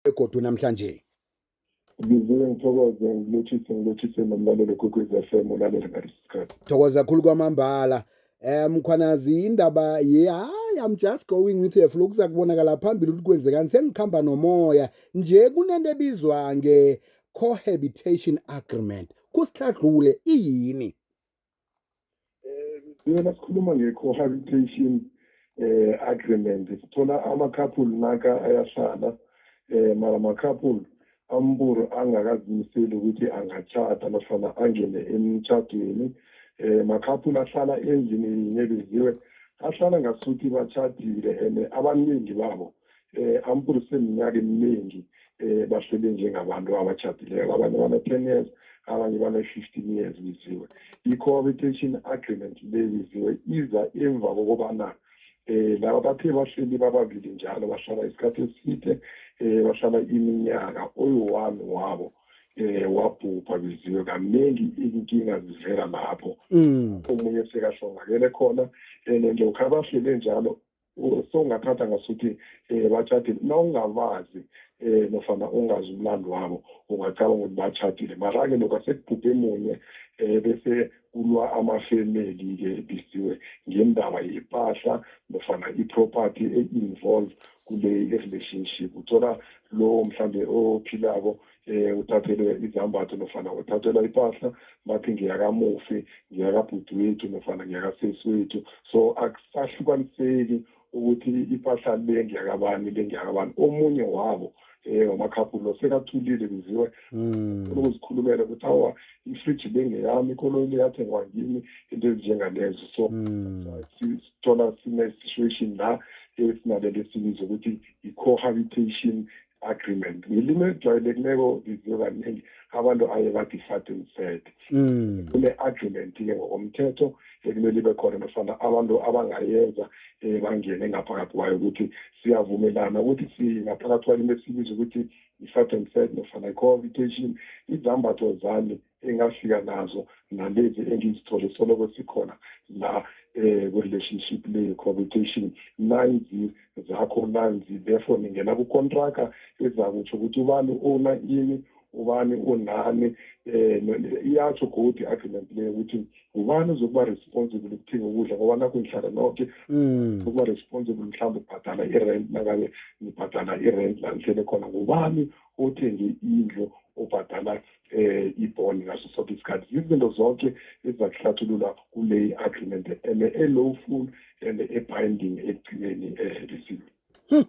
begodu namhlanje ngivuke ngithokoze ngilotshise ngilotshise nomlalelo kwekwezi f m ulalele ngalesi sikhathi thokoza khulu kwamambala um mkhwanazi indaba ye hayi i'm just going with her flow kuza kubonakala phambili ukuthi kwenzekani sengikhamba nomoya nje kunento ebizwa nge-cohabitation agreement kusihlagqule iyini Eh, mina nasikhuluma nge-cohabitation eh agreement sithola ama-couple naka ayahlala eh mara ama-couple amburu angakazimiseli ukuthi angatshata nofana angene emtshadweni eh ma-couple ahlala endlini yinye beziwe ahlala ngasuthi batshadile and abaningi babo eh amkhulu sineminyaka eminingi eh bahlele njengabantu abatshadileko abanye bana-ten years abanye bana-fifteen years biziwe i-cohabitation agreement le biziwe iza emva kokobana eh laba bathe bahleli bababili njalo bahlala isikhathi eside eh bahlala iminyaka oyi-one wabo eh wabhubha biziwe kaningi inkinga zivela lapho mm. omunye sekahlongakele khona and lokhu abahlele njalo sowungathatha ngasuthi um eh, batshadile nawungabazi um eh, nofana ungazi umlando wabo ungacabanga ukuthi batshadile mara-ke lokhu asekubhubhe munye um bese kulwa amafemeli-ke ebisiwe ngendaba yepahla nofana i-property e-involve kule relationship uthola lowo mhlambe ophilako eh uthathelwe izambatho nofana uthathelwa ipahla bathi ngiyakamufi ngiyakabhuti wethu nofana ngiyakasesi wethu so akusahlukaniseki ukuthi ipahla le ngiyakabani le ngiyakabani omunye wabo eh wamakhaphulu sekathulile biziwe hmm. ukuzikhulumela ukuthi awa ifridge bengeyami ikoloyi le yathengwa ngimi into ezinjengalezo so hmm. sithola sine-situation la esinalele sibiza ukuthi i-cohabitation agreement ngilimi elijwayelekileko liziwe kaningi abantu aye bathi sat and set mm. kune-agreement ke ngokomthetho ekumele ibe khona nofana abantu abangayenza um bangene ngaphakathi kwayo ukuthi siyavumelana ukuthi singaphakathi kwalimi esibiza ukuthi i-sat and set nofana i-cohabitation izambatho zami engafika nazo nalezi engizithole soloko sikhona la eh relationship le cohabitation nanzi zakho nanzi therefore ningena ku contract ezakutsho ukuthi ubani ona ini ubani onani eh iyatsho godi agreement le ukuthi ubani uzokuba responsible ukuthenga ukudla ngoba nakho ngihlala noke mm. ukuba responsible mhlawumbe ubhadala i-rent nangabe ngibhadala i-rent la ngihlele khona ngubani othenge indlu obhadala eh ibhoni ngaso sonke isikhathi yizinto zonke ezizakuhlathulula kule agreement and e-lawful and e-binding ekugcineni ehelisiwe hmm.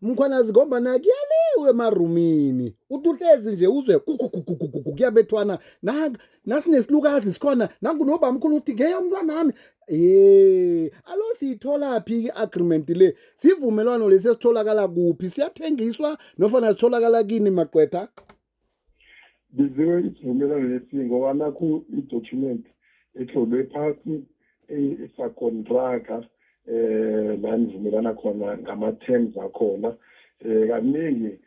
mkhwanazi ngombana kuyaliwe emarumini uthi uhlezi nje uzwe kugugugugugugu kuyabethwana nasinesilukazi sikhona nangunobamkhulu uthi ngeyo mntwanami ye alo siyitholaphi i-agreement le sivumelwano lesi esitholakala kuphi siyathengiswa nofana sitholakala kini magqwetha biziwe isivumelwano lesi ngoba nakhu i-document etlolwe phasi isakontraka um eh, la nivumelana khona ngama-terms akhona um kaningi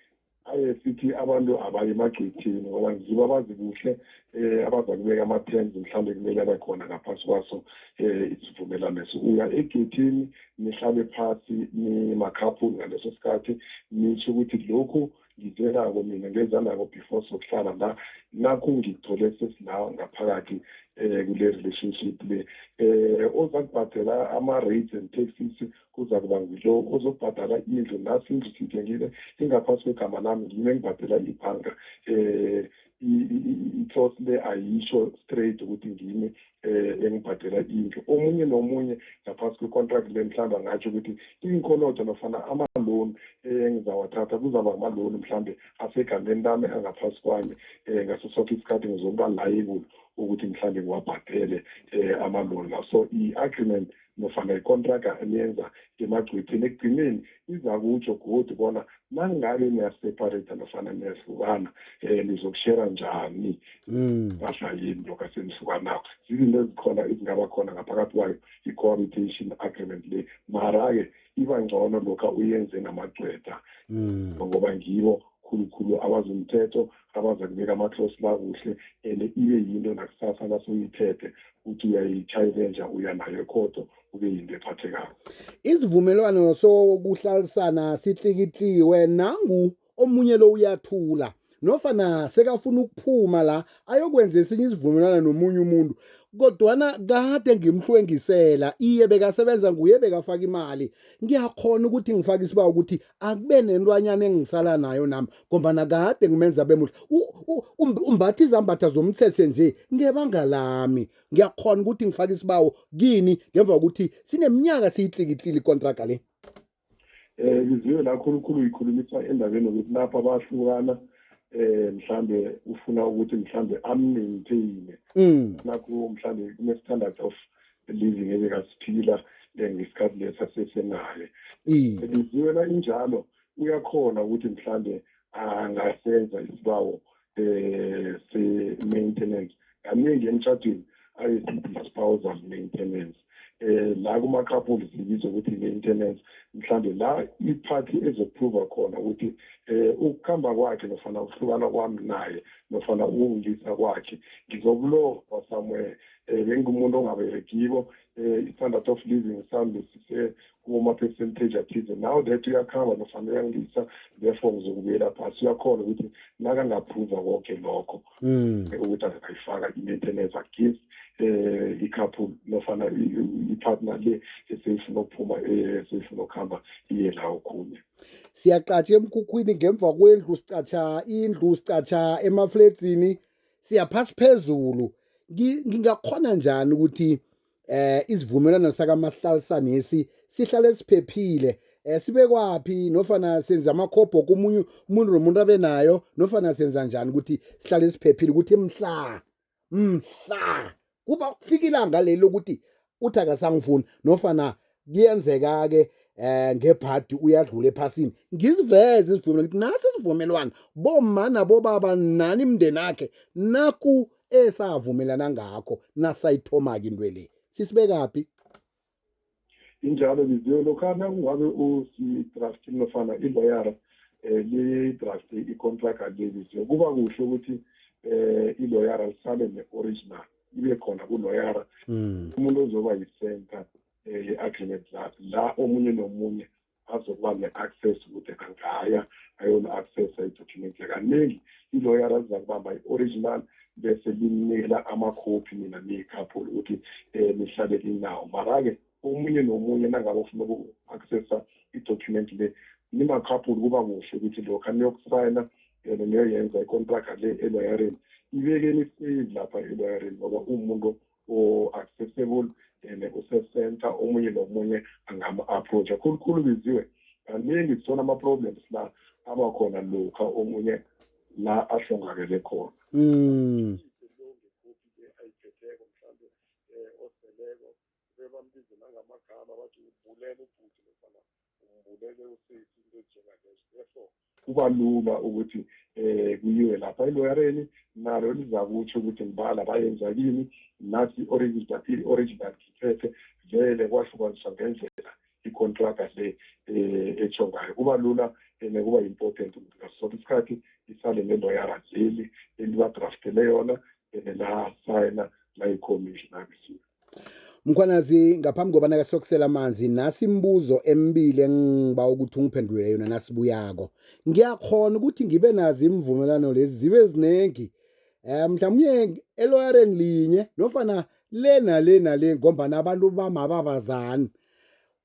aye sithi abantu abaye emagcwethini ngoba ngibo abazi kuhle um abazakubeka ama-terms mhlawumbe kumele abe khona ngaphasi kwaso um isivumelwano eso uya egethini nihlale phasi nimakhaphu ngaleso sikhathi nisho ukuthi lokhu ngizwenako mina ngezanako before sokuhlala la nakho ngithole sesila ngaphakathi um kule relationship le um oza kubhadela ama-rates and taxes kuza kuba ngilo ozokubhadala indlu nasi indlu sithengile ingaphasi kwegama lami ngime ngibhadela ibhanga um i-cost le ayisho straight ukuthi ngimi um eh, engibhadela indlu omunye nomunye ngaphasi kwe-contract le mhlawumbe angatsho ukuthi iinkolodo nofana ama-loan eh, engizawathatha kuzaba ama-loan mhlawumbe asegameni lami angaphasi kwami um ngaso soke isikhathi ngizokuba layibule ukuthi mhlawumbe ngiwabhadele um ama-loan la so i-agreement nofana ikontraga eniyenza ngemagcwethini ekugcineni iza kutsho godi bona nangabe niyaseparate nofana niyahlukana um eh, nizokushera njani mm. mpahla yini lokho asenihlukanako zizinto ezikhona ezingaba khona ngaphakathi kwayo i-cohabitation agreement le mara-ke iba ngcono lokha uyenze namagcwetha mm. ngoba ngibo khulukhulu abazomthetho abaza kubeka amathosi la kuhle and ibe yinto nakusasa nasoyithethe ukuthi uyayitshayinenja uya nayo ekhodo kube yinto ephathekako isivumelwano sokuhlalisana sihlikihliwe nangu omunye lo uyathula nofana sekafuna ukuphuma la ayokwenza esinye isivumelwano nomunye umuntu kodwana kade ngimhlwengisela iye bekasebenza nguye bekafaka imali ngiyakhona ukuthi ngifake isiba ukuthi akube nentwanyana engisala nayo nami ngombana kade ngimenza bemuhle umbatha izambatha zomthethe nje ngebanga lami ngiyakhona ukuthi ngifake isibawo kini ngemva kokuthi sineminyaka siyitlikitlile ikontraga le um ngiziwe la khulukhulu yikhulumisa endabeni yokuthi lapha bahlukana eh mhlambe ufuna ukuthi mhlambe ammaintaine mm. nakho mhlambe kune-standard of living ebekasiphila eh, ngesikhathi lesa sesenaye ebiziwela injalo uyakhona ukuthi mhlawumbe angasenza isibawo um se-maintenance kaningi emtshadweni ayesithi i-spousal maintenance eh la kuma couple sibizwa ukuthi maintenance mhlambe la iphathi ezoprova khona ukuthi eh ukukhamba kwakhe nofana ukuhlukana kwami naye nofana ukungisa kwakhe ngizokulofa somewhere eh bengumuntu ongaberekibo eh standard of living sambe sise kuma-percentage athize now that uyakhamba nofana uyangisa therefore ngizokubuyela phasi uyakhona ukuthi nakangaphuza konke lokho hmm. eh, ukuthi angayifaka i-maintenance agifts um eh, i-couple nofana i-partner le eseyifuna ukuphuma eh, eseyifuna ukuhamba iye la okhunye siyaqatsha emkhukhwini ngemva kwendlu sicatsha indlu sicatsha emafledzini siyaphasi phezulu ngingakhona njani ukuthi eh isivumelwano sakamahlalisanesi sihlale siphephile eh sibekwaphi nofana senza amakhobho komunye umuntu nomuntu abe nayo nofana senza njani ukuthi sihlale siphephile ukuthi mhla mhla kuba kufika ilanga leli lokuthi uthi akasangifuni nofana kuyenzeka-ke eh ngebhadi uyadlula ephasini ngiziveze isivumelwano ngithi naso isivumelwano bomma nabobaba nani imndeni akhe naku esavumelana ngakho nasayithoma-ke into le sisibekaphi injalo biziwe lokhana kungabe usidraftin nofana iloyara um lidrafte icontract leli kuba kuhle ukuthi um iloyara lisale ne-original ibe khona kuloyara mm. umuntu ozoba yisenta um eh, ye-agreement lakhe la omunye nomunye azokuba ne-access ukuthi angaya ayona-access ayidocument kaningi iloyara ziza kubamba i-original bese linikela amakhophi nina niyikhaphulo ukuthi um nihlale linawo mara-ke omunye nomunye nangabe ufuna uku-accessa i-document le nimakhapuli kuba kuhle ukuthi lokha niyokusayina yona niyoyenza ikontraka le eloyareni ibeke nisave lapha eloyareni ngoba uwumuntu o-accessible and usesenta omunye nomunye angama-approacha khulukhulu biziwe kaningi sithola ama-problems la aba khona lokha omunye la ahlongakele khona mm. bebambize nangamagama bathi ubulele ubhuti nofana umbulele usesi into enjengalezo therefore kuba lula ukuthi um kuyiwe lapha eloyareni nalo lizakutsho ukuthi ngibala bayenza kini nathi i-original i-original ngithethe vele kwahlukaniswa ngendlela icontraga le um etsho ngayo kuba lula and kuba important ukuthi ngaso sonke isikhathi isale neloyara leli elibadraftele yona and lasayina layikhomishina abisiyo Mkhwanazi ngaphambi kobana ke sokusela amanzi nasi imibuzo emibili engiba ukuthi ungiphendule yona nasibuyako. Ngiyakhona ukuthi ngibe nazi imvumelwano lezi zibe zinengi. Eh mhlawumnye eloyareni linye nofana le nale nale ngombana abantu bamababazani.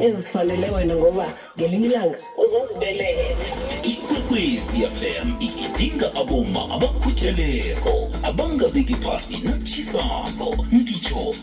ezifanele wena ngoba ngelinye ilanga uzozibelela ikwekwezi fm igidinga aboma abakhutheleko abangabeki phasi natshisako ngitsho